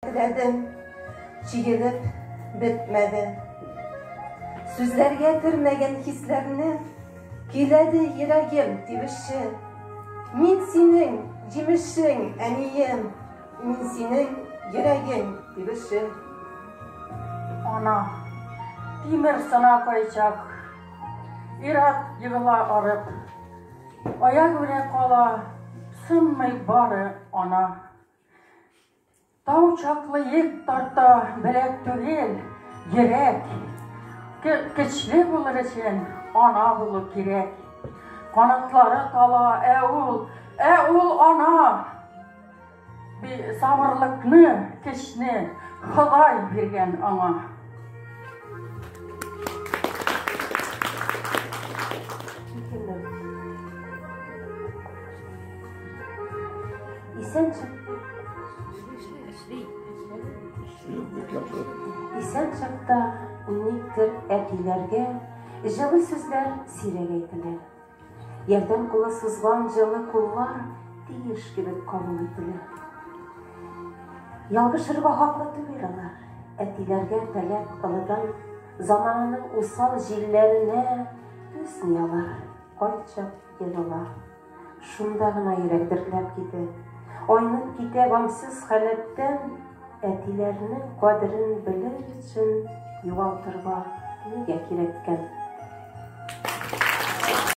Теләдем, җыелып бетмәде. Сүзләргә кермәгән хисләрне Көйләде йөрәгем тибеше. Мин синең җимешең, әнием, Мин синең йөрәгең тибеше. Ана, тимер сына кайчак, Ират егыла арып, Аягүрә кала, сынмый бары ана. Тау чаклы йөк тарта беләк түгел, йөрәк. Көчле булыр өчен ана булу кирәк. Канатлары тала, ә ул, ә ул ана! Сабырлыкны, көчне Ходай биргән аңа. Исән Исән чакта никтер әтиләргә җылы сүзләр сирәк әйтелә. Ярдәм кулы сузган җылы куллар тиеш кебек кабул ителә. Ялгышырга хаклы түгел алар. Әтиләргә таләп кылыдан замананың усал җилләренә түзми алар. Кайчак елыла. Шунда гына йөрәк дертләп китә. Айнып китә гамьсез халәттән Әтиләрнең кадерен белер өчен югалтырга нигә кирәккән?